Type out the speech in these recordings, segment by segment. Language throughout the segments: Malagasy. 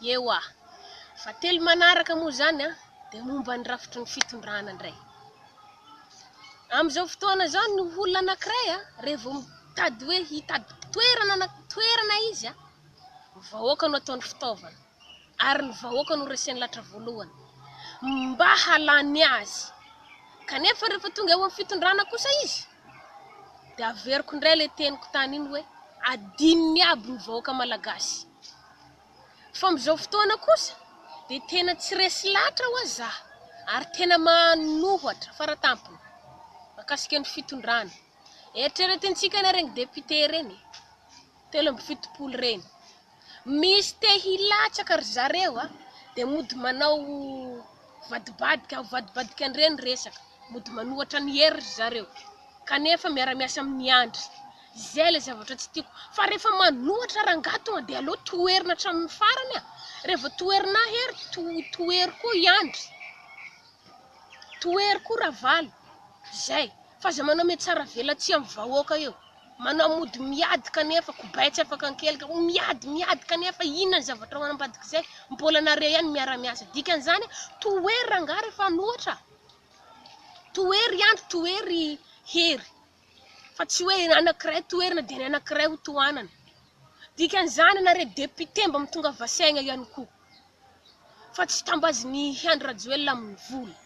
Ewa. Fa telo manaraka moa izany an, dia momba ny rafitry ny fitondrana indray. Amin'izao fotoana izao ny olona anankiray an, rehefa vao mitady hoe hitady toerana na toerana izy an, ny vahoaka no ataony fitaovana, ary ny vahoaka no reseny lahatra voalohany, mba halany azy. Kanefa rehefa tonga eo amin'ny fitondrana kosa izy, dia averiko indray ilay teniko tany iny hoe adinony aby ny vahoaka malagasy fa amin'izao fotoana kosa dia tena tsy resy lahatra hoa za ary tena manohatra faratampony makasika ny fitondrana eritreretintsika ny reny depite reny telo amby fitopolo reny misy te hilatsaka ry zareo a dia mody manao vadibadika avadibadika an'ireny resaka mody manohatra ny hery ry zareo kanefa miara-miasa amin'ny andry izay ilay zavatra tsy tiako fa rehefa manohatra rangahy tonga dia aleo toherina hatramin'ny farany a rehefa toherina hery to tohery koa i andry Tohery koa Ravalo zay fa zay manao metsara velatsihy amin'ny vahoaka eo manao mody miady kanefa kobay tsy afaka ankelika miady miady kanefa inona ny zavatra ao anambadik'izay mbola nareo ihany miara miasa dikan'izany tohery rangahy rehefa manohatra tohery andry tohery hery fa tsy hoe ny anankiray toherina dia ny anankiray ho tohanana. Dikan'izany ianao re député mba mitongava saina ihany koa fa tsy tambazin'i Andry Rajoelina amin'ny vola.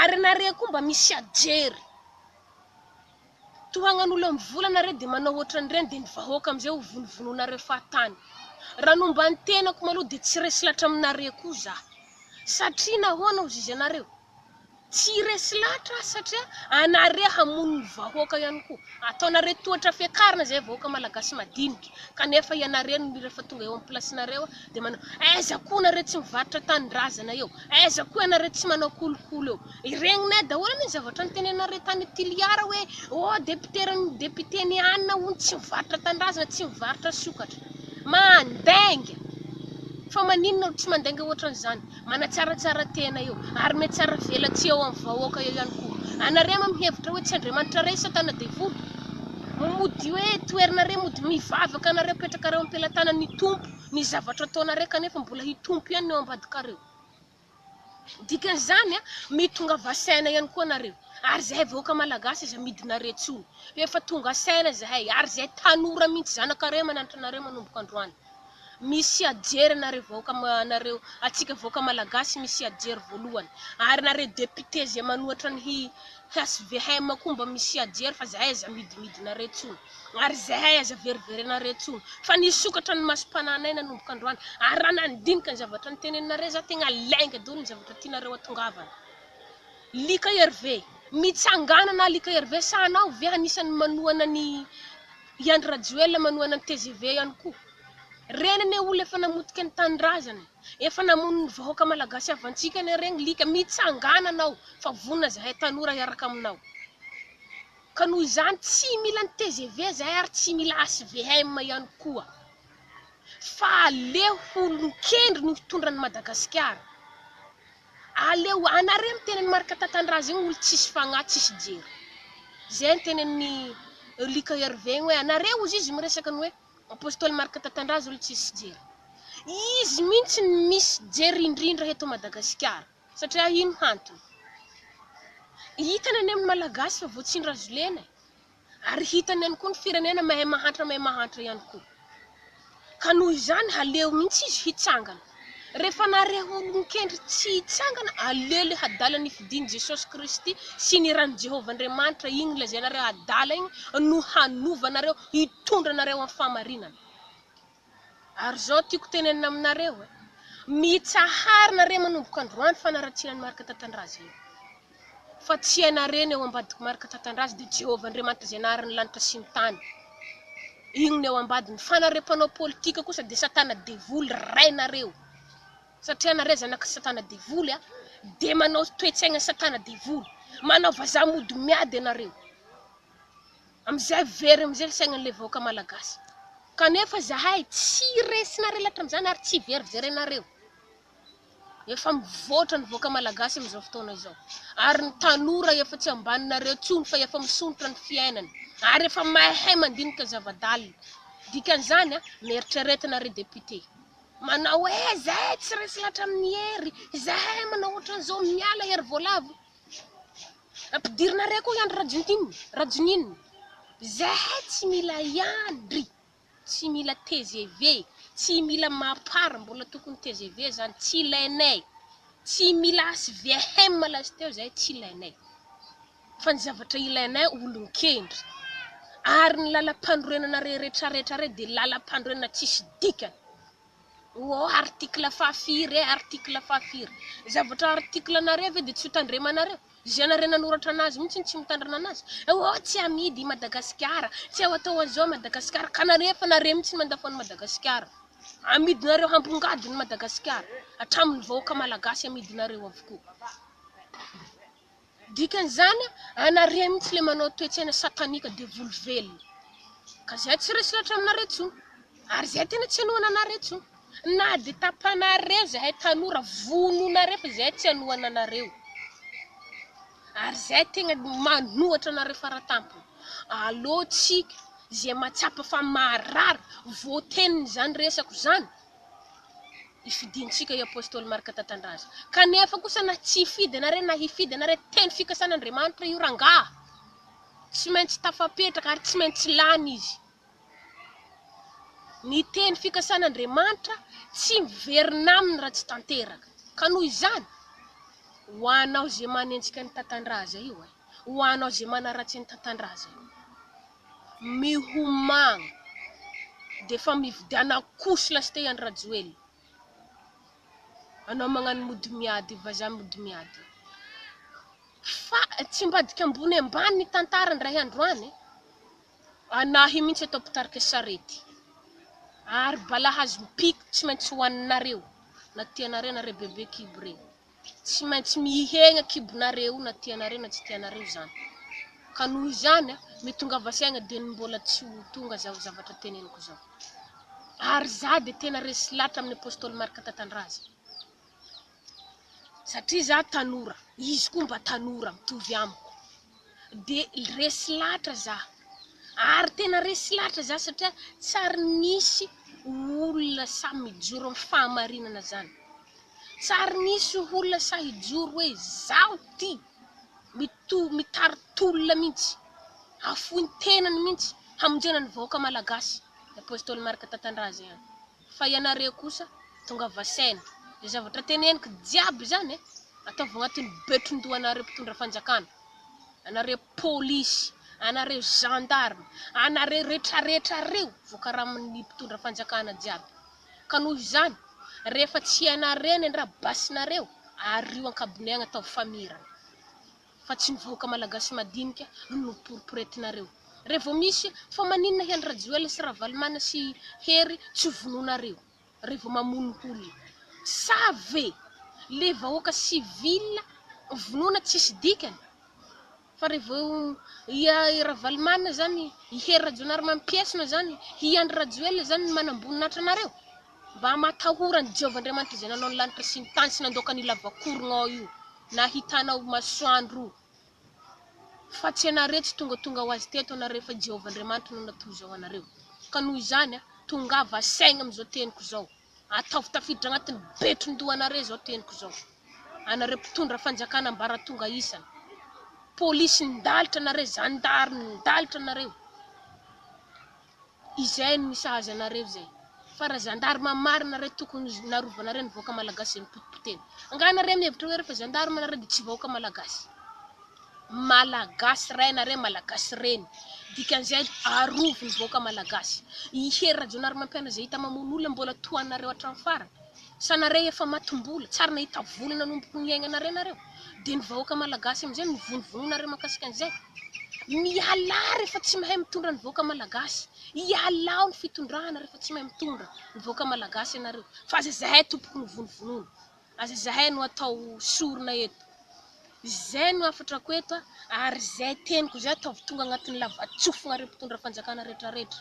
Ary ianareo koa mba misy ajery. Tohanan'olona amin'ny vola ianareo dia manao ohatran'ireny dia ny vahoaka amin'izay ho vonovonoinareo fahatany. Raha ny momba ny tenako maloha dia tsy resy lahatra aminareo koa izaho satria nahoana hozizy anareo? Tsy resy lahatra aho satria anareo hamono ny vahoaka ihany koa. Ataonareo tohatra fiakarana izay vahoaka malagasy madinika kanefa ianareo no rehefa tonga eo am plasinareo dia manao aiza koa nareo tsy mivarotra tanindrazana eo, aiza koa ianareo tsy manao kolikoly eo. Regninay daholo anie ny zavatra nitenenanareo tany Toliara hoe oh député ny député ny anona hono tsy mivarotra tanindrazana, tsy mivarotra sokatra. Mandainga! Fa maninona no tsy mandainga ohatran'izany? Manatsaratsara tena eo, ary mihatsara velatsihy eo amin'ny vahoaka eo ihany koa. Anareo ma mihevitra hoe tsy Andriamanitra re satana devoly? Mody hoe toerina re mody mivavaka anareo apetrakareo ampelatanany hitompo ny zavatra ataonareo kanefa mbola hitompo ihany ny eo ambadikareo. Dikan'izany mitongava saina ihany koa nareo ary zahay vahoaka malagasy aza midinareo intsony fa efa tonga saina zahay ary zahay tanora mihintsy zanakareo mananatra anareo manomboka androany. Misia jery anareo vahoaka anareo atsika vahoaka malagasy misia jery voalohany ary nareo député zay manohatra ny hvm koa mba misia jery fa zahay aza midimidinareo tsony ary zahay aza veriverenareo tsony fa nisokatra ny masom-pananay nanomboka androany ary raha nandinika ny zavatra niteneninareo za tegna lainga daholo ny zavatra tianareo atongavana lika herve mitsanganana lika herve sa anao ve anisan'ny manohana ny I Andry Rajoelina manohana ny tgv ihany koa. Reny anie olo efa namotika ny tanindrazana e! Efa namono ny vahoaka malagasy havantsika anie regny lika! Mitsangana anao fa vonona zahay tanora hiaraka aminao! Ka noho izany tsy mila ny tgv zahay ary tsy mila HVM ihany koa! Fa aleo olon-kendry no hitondra an'i Madagasikara! Aleo anareo miteny an'i Marc Tatandraza io olo tsisy fagnahy tsisy jery. Zay ny tenenin'i Luc Hervé igny hoe anareo ozy izy miresaka ny hoe Apostoly Marc Tatandraza olo tsisy jery. Izy mintsy no misy jery indrindra eto Madagasikara. Satria ino hantony? Hitany any amin'ny Malagasy fa voatsindrazo lena e. Ary hitany ihany koa ny firenena mahay mahantra mahay mahantra ihany koa. Ka noho izany haleo mihitsy izy hitsangana. Rehefa nareo olon-kendry tsy hitsangana, aleo ilay hadala ny fidin'i Jesosy Kristy sy ny ran'i Jehovah Andriamanitra iny lazainareo hadala iny no hanova anareo, hitondra anareo amin'ny fahamarinana. Ary zao tiako tenenina aminareo e, mitsahara nareo manomboka androany fanaratsiana an'i Marc Tatandraza io. Fa tsy ianareo no eo ambadik'i Marc Tatandraza dia Jehovah Andriamanitra izay nahary ny lanitra sy ny tany. Iny no eo ambadiny. Fa nareo mpanao politika kosa dia satana devoly rainareo. Satria nareo zanak'i satana devoly a, dia manao toe-tsaigna satana devoly. Manao vazaha mody miady ianareo. Amizay very amizay ny saignan'ilay vahoaka malagasy. Kanefa zahay tsy resinareo lahatra amizany ary tsy veriverenareo. Efa mivoatra ny vahoaka malagasy amizao fotoana izao. Ary ny tanora efa tsy ambaninareo tsony fa efa misondrotra ny fiainany. Ary efa mahay mandinika zavadalina. Dikan'izany mieritreretina ry député. Manao hoe zahay tsy resy lahatra amin'ny hery, zahay manao otran'izao, miala hery voalavo. Ampidirinareo koa iandry rajuntin rajonin zahay tsy mila iandry tsy mila tgv tsy mila mapar mbola tokony tgv zany tsy ilainay tsy mila hvm lasteo zahay tsy ilainay fa ny zavatra ilainay olonkendry ary ny lalampanorenana reretraretra rey de lalampanorenana tsisy dikany Ô article fahafiry e, article fahafiry? Ny zavatra article anareo ve dia tsy ho tandremanareo? Izay anareo nanoratra anazy mihitsy no tsy mitandrina anazy. Ô tsy amidy i Madagasikara, tsy ao atao an'izao i Madagasikara, ka anareo efa nareo mihitsy no mandafo an'i Madagasikara. Amidinareo hambongadiny i Madagasikara, hatramin'ny vahoaka malagasy amidinareo avokoa. Dikan'izany, anareo mihitsy ilay manao toe-tsaina satanika devoly velona. Ka izay tsy resy lahatra aminareo intsony. Ary izay tena tsy hanohana anareo intsony. Na dia tapanareo izahay tanora, vonoinareo fa izahay tsy hanohana anareo. Ary izahay tegna manohatra anareo faratampony. Allo tsika izay mahatsapa fa maharary voatenin'izany resako izany. ifidintsika i Apostoly Marka Tatandraza. Kanefa kosa na tsy hifidy ana re na hifidy ana re, teny fikasana Andriamanitra io rangaha. Tsy maintsy tafapetraka ary tsy maintsy lany izy. Ny teny fikasana Andriamanitra tsy miverina aminy raha tsy tanteraka. Ka noho izany, ho anao ze manenjika ny Tatandraza io e, ho anao ze manaratsy ny Tatandraza io. mihomagna dia efa mividiana couche lastey any rajoelina anao magnano mody miady vaza mody miady fa tsy mbadika ambony ambany ny tantara ndray andro any anahy mintsy atao mpitarika sarety ary bala hazom-piko tsy maintsy hoaninareo na tianareo nareo bebe kibo reny Tsy maintsy mihegna kibonareo na tianareo na tsy tianareo zany ka noho izany a ny tongava saigna de ny mbola tsy ho tonga zao zavatra teneniko zao ary za de tena resy latra amin'ny apostoly marc tatandraza satria za tanora izy koa mba tanora mitovy amiko dia resy lahatra za ary tena resy lahatra za satria tsy ary nisy olona sahy mijoro amin'ny fahamarinana zany tsy ary nisy olona sahy hijoro hoe zaho ty mitohy mitari-tolona mihitsy hafoin-tenany mihitsy hamonjena ny vahoaka malagasy i apostoly marc tatandraza ihany Fa ianareo kosa tonga vasaina. Izay zavatra teneniko jiaby izany e, ataovy agnatin'ny betron-doha anareo mpitondra fanjakana, anareo polisy, anareo gendarme, anareo retraretra reo voakaramin'ny mpitondra fanjakana jiaby. Ka noho izany, rehefa tsy ianareo ny andrabasinareo, ario an-kabone agny ataovy famirana. fa tsy ny vahoaka malagasy madinika no noporiporetinareo re vao misy fa maninona hely rajoel sy ravalomana sy hery tsy vononareo re vao mamono olona sa ve le vahoaka civil vonona tsisy dikany fa re vao i ravalomana zany i hery rajonary mampiesona zany i andry rajoel zany ny manamboninatra anareo Mba matahora an'i Jehovah Andriamanitra izay nanao ny lanitra sy ny tany sy nandoaka ny lavakoronao io nahitanao masoandro io, fa tsy ianareo tsy tongatonga ho azy teto ianareo fa i Jehovah Andriamanitra no natory izao anareo. Ka noho izany, tongava saigna amin'izao teniko izao. Ataovy tafiditra agnatin'ny betron-dohanareo izao teniko izao. Anareo mpitondra fanjakana ambaratonga isany. Polisy nidalitra anareo, zandary nidalitra anareo. Izay no misahaza anareo izay. Fa raha zandarma marina nareo tokony narovanareo ny vahoaka malagasy izay nipotipotena. Angaha nareo mihevitra hoe rehefa zandarma nareo dia tsy vahoaka malagasy? Malagasy ray nareo, malagasy reny. Dikan'izay arovy ny vahoaka malagasy. I Hery Rajaonarimampianina izay hita mamono olona mbola tohanareo hatramin'ny farany. Sanare efa matimbola, tsary nahita vola nanomboky niaignanare nareo, de ny vahoaka malagasy amizay mivonivononare makasika anizay. Mialà refa tsy mahay mitondra ny vahoaka malagasy, ialao ny fitondrana refa tsy mahay mitondra ny vahoaka malagasy ianareo, fa aza zahay tompoko no vonovonono, aza zahay no atao sorona eto. Izay no hafatrako eto ary zay teniko zay ataovy tonga agnatiny lavatsofina re mpitondra fanjakana retraretra.